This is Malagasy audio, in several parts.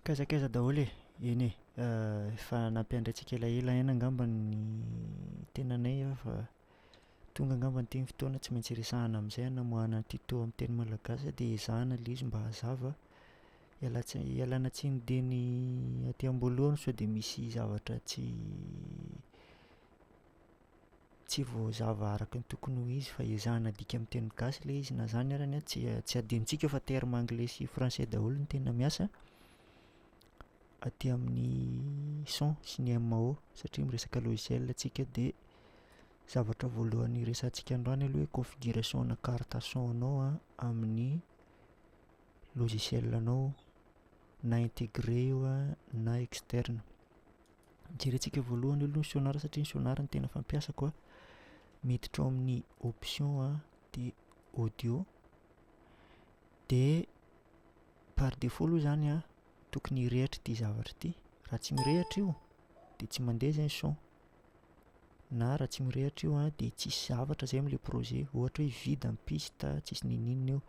Kaiza kaiza daholo e! Eny e! Efa nampiandry antsika elaela ihany angamba ny tenanay fa tonga angamba ity ny fotoana tsy maintsy resahina amin'izay hanamoahana an'ity toa amin'ny teny malagasy dia ezahana ilay izy mba hazava. Iala-tsiny ialana tsiny dieny aty am-boalohany sao dia misy zavatra tsy tsy voazava araka ny tokony ho izy fa ezahina adika amin'ny teny gasy ilay izy. Na izany ary an, tsy tsy adinontsika fa termes anglais sy français daholo no tena miasa aty amin'ny son sy ny MAO satria miresaka logiciel isika dia zavatra voalohany hiresahantsika androany aloha hoe configuration-na carte son anao an amin'ny logiciel anao na integrer io an na externe. Jerentsika voalohany aloha ny sonar satria ny sonar no tena fampiasako a, miditra ao amin'ny option a de audio de par defaut aloha zany a tokony hirehitra ity zavatra ity, raha tsy mirehitra io de tsy mandeha zay ny son. na raha tsy mirehitra io an dia tsisy zavatra zay amin'ilay projet, ohatra hoe vide ny piste, tsisy ninoninona eo.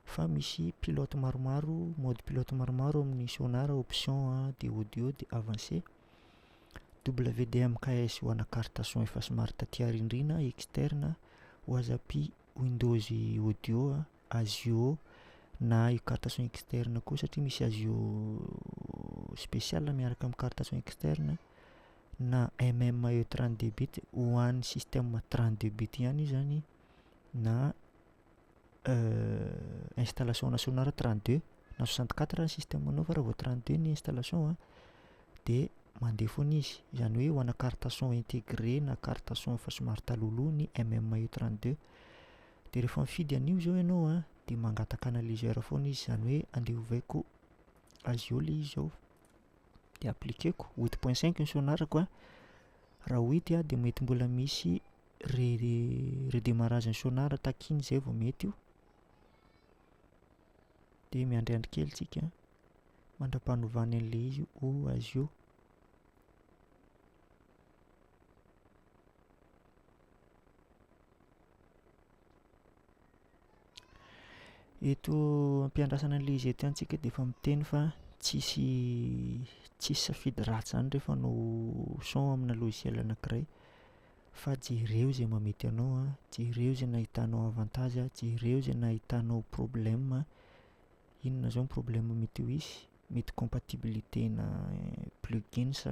Fa misy pilote maromaro, mode pilote maromaro ao amin'ny sonar, option a, dia audio, dia avancé. WDMKS ho ana carte son efa somary taty arindrina, externe, WASAP windows audio, ASIO, na io carte son externe koa satria misy ASIO spécial miaraka amin'ny carte son externe, na MMAE trente deux bit ho an'ny système trente deux bit ihany io zany na installation nationale trente deux na soixante quatre ary ny système anao fa raha vao trente deux ny installation a de mandeha foana izy, izany hoe ho ana carte son intégré na carte son efa somary talohaloha ny MMAE trente deux, de rehefa mifidy an'io zao ianao a de mangataka analyseur foana izy, izany hoe andeha ovaiko azy eo le izy zao. dia appliquer-ko huit point cinq ny sonar-ko a, raha huit a dia mety mbola misy re- redemarrage ny sonar takiany zay vao mety io, de miandriandry kely tsika mandra-panovany an'le izy ho azy io. Eto am-piandrasana an'ilay izy eto ihany tsika dia efa miteny fa tsisy tsisy safidy ratsy izany rehefa hanao son amina logiciel anakiray fa jereo izay mahamety anao an, jereo izay nahitanao avantage, jereo izay nahitanao problème, inona izao ny problème mety ho hisy, mety compatibilité-na plugins,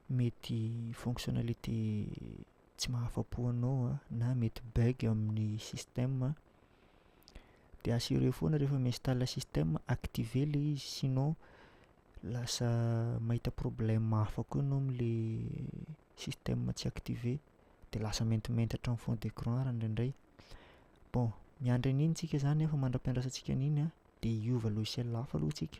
mety fonctionnalités. tsy mahafa-po anao an, na mety bug amin'ny système, dia assurer foana rehefa mi-install système, activer le izy sinon lasa mahita problème hafa koa enao amle système tsy activer, dia lasa maintimainty hatramin'ny fond d'écran ary indraindray. Bon, miandry an'iny tsika zany an fa mandra-piandrasantsika an'iny an, dia hiova logiciel hafa aloha tsika.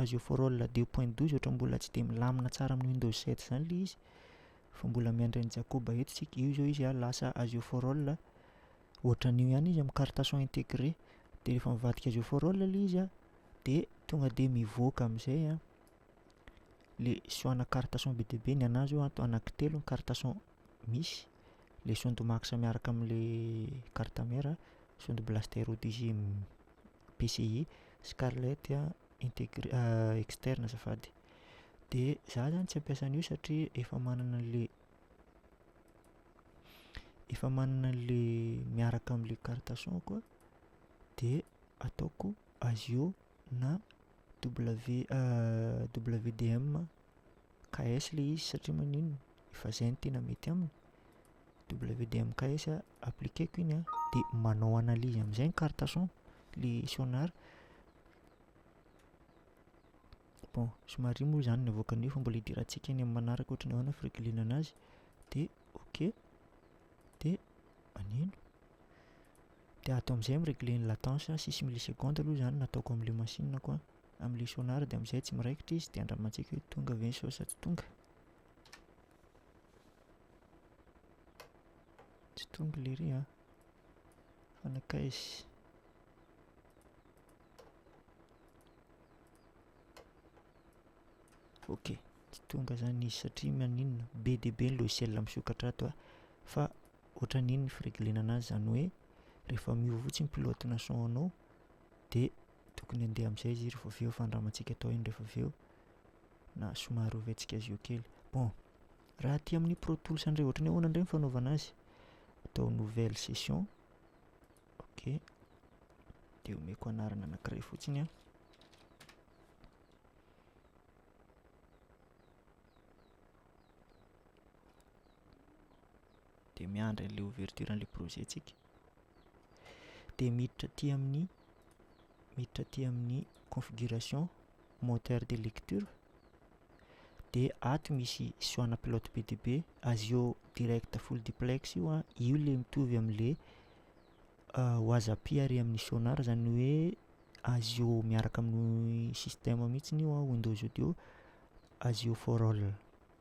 azy eo for all deux point douze ohatra mbola tsy de milamina tsara amin'ny windows sept zany le izy fa mbola miandry an'i Jakoba eto tsika io zao izy a lasa azy eo for all ohatran'io ihany izy amin'ny carte son integre de rehefa mivadika azy eo for all le izy a de tonga de mivoaka am'zay a le son ana carte son be dia be ny anahy zao ato anaky telo ny carte son misy le son de max miaraka am'le carte mère son de blaster ODG. PCI, Scarlett integr- externe azafady. Dia za zany tsy hampiasa an'io satria efa manana an'le efa manana an'le miaraka am'le carte son-ko aho de ataoko ASIO na W WDM. KS le izy satria maninona efa zay no tena mety aminy WD amin'ny KS appliquer-ko iny an dia manao analyse amin'izay ny carte son le sonar bon somary iny moa izany no avoakan'io fa mbola hidirantsika any amin'ny manaraka ohatra ny ahoana ny fireglena an'azy dia ok dia maneno dia ato amin'izay miregle ny latence six millisecondes aloha izany no ataoko amin'ilay machine-ko an amin'ilay sonar dia amin'izay tsy miraikitra izy dia andramantsika hoe tonga ve ny sao sa tsy tonga. Tsy tonga ilay ry an. Fa nakaizy. Ok, tsy tonga zany izy satria maninona be dia be ny logiciel misokatra ato a fa ohatran'iny ny fireglena anazy zany hoe rehefa miova fotsiny pilote-na son anao dia tokony handeha amin'izay izy rehefa avy eo fa ny ramantsika atao ihany rehefa avy eo na somary oventsika azy eo kely. Bon, raha aty amin'ny Pro Tools indray ohatran'ny ahoana indray ny fanaovana azy? Atao nouvelle session. Ok. Dia omeko anarana anankiray fotsiny an. Dia miandry an'ilay ouverture an'ilay projet-tsika. dia miditra aty amin'ny miditra aty amin'ny configuration moteur de lecture dia ato misy soana pilote be dia be azy eo direct full duplex io a io le mitovy amin'le wazapi ary amin'ny sonar zany hoe azy eo miaraka amin'ny système mihitsy io a windows audio azy eo for all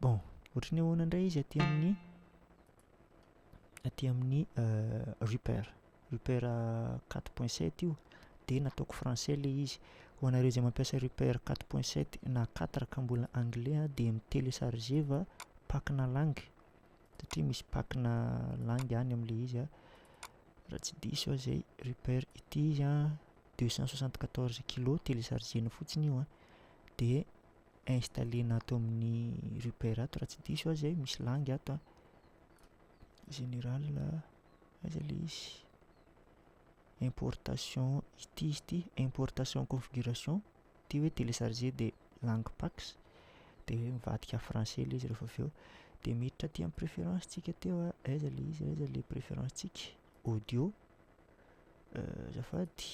bon ohatry ny ahoana indray izy aty amin'ny aty amin'ny Reaper Reaper quatre point sept io dia nataoko français ilay izy ho anareo izay mampiasa Reaper quatre point sept na quatre ka mbola anglais a dia mi-téléchargeva pack-na lang satria misy pack-na lang any amin'ilay izy a raha tsy diso aho izay Reaper ity izy a deux cent soixante quatorze kilo téléchargena fotsiny io a dia installer-na ato amin'ny Reaper ato raha tsy diso aho zay, misy langue ato an. Général, aiza le izy? Importation, ity izy ity, importation configuration, ity hoe télécharger dia langue pax, dia hoe mivadika français le izy rehefa avy eo. Dia miditra aty amin'ny préférence tsika teo an, aiza le izy, aiza le préférence tsika? Audio, azafady,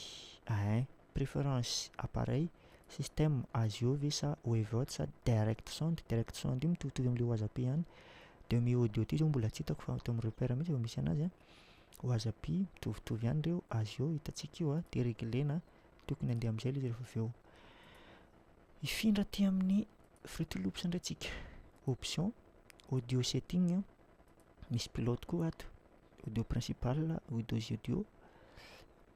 ein. Preference appareil, system, azy eo ve sa waveaud sa direct sound, direct sound io mitovitovy amin'ilay wasapi ihany, demi audio ty zao mbola tsy hitako fa ato amin'ny repère mihitsy vao misy anazy an, wasapi mitovitovy ihany ireo, azy eo hitantsika io an, dia reglena tokony handeha amin'izay ilay izy rehefa avy eo. Hifindra aty amin'ny Fruity Loops indray tsika, option, audio setting an, misy pilote koa ato, audio principal, audio audio,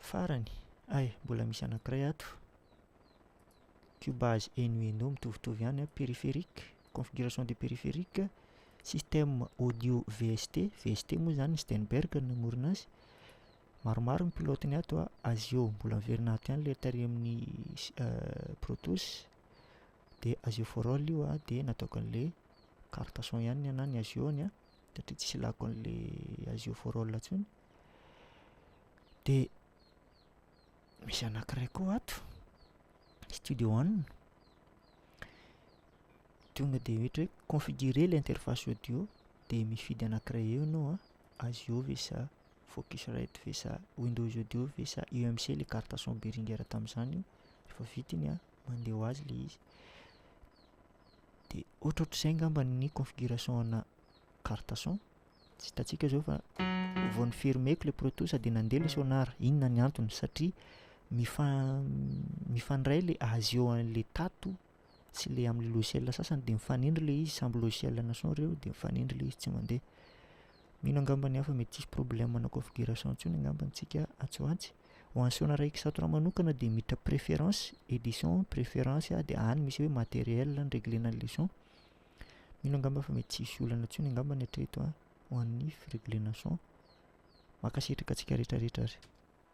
Farany, hay, mbola misy anankiray ato, cubase eno eno mitovitovy ihany an, périphérique, configuration de périphérique, système audio VST, VST moa izany Steinberg no namorona azy, maromaro ny pilaotiny ato an, azy io mbola miverina ato ihany ilay tarihin'ny pro tools, dia azy io for all io an, dia nataoko an'ilay carte son ihany ny anà ny azy io an. satria tsisy lako an'le azio for all intsony. De misy anankiray koa ato, studio one. Tonga de ohatra hoe configurer le interface audio de mifidy anankiray eo enao a, azio ve sa focusrite ve sa windows audio ve sa UMC le carte son Behringer tamin'zany io, refa vita iny a, mandeha ho azy le izy. dia ohatrohatr'izay angamba ny configuration ana carte son tsy hitantsika zao fa vao ny fermeko le proto sady nandeha le sonar inona ny antony satria mifa- mifandray le azeo an'le tato sy le am'le logiciel sasany de mifanindry le izy samby logiciel ana son reo de mifanindry le izy tsy mandeha mino angamba ny hafa mety tsisy problème ana configuration ntsony angamba antsika atsy ho atsy Ho an'i Sona Raikisatoran manokana dia miditra préférence, édition, préférence aho dia any misy hoe matériel nireglena ny leçon. Mino angamba fa mety tsy hisy olana intsony angamba ny hatreto an, ho an'ny fireglena son. Mankasitraka antsika rehetra rehetra ary.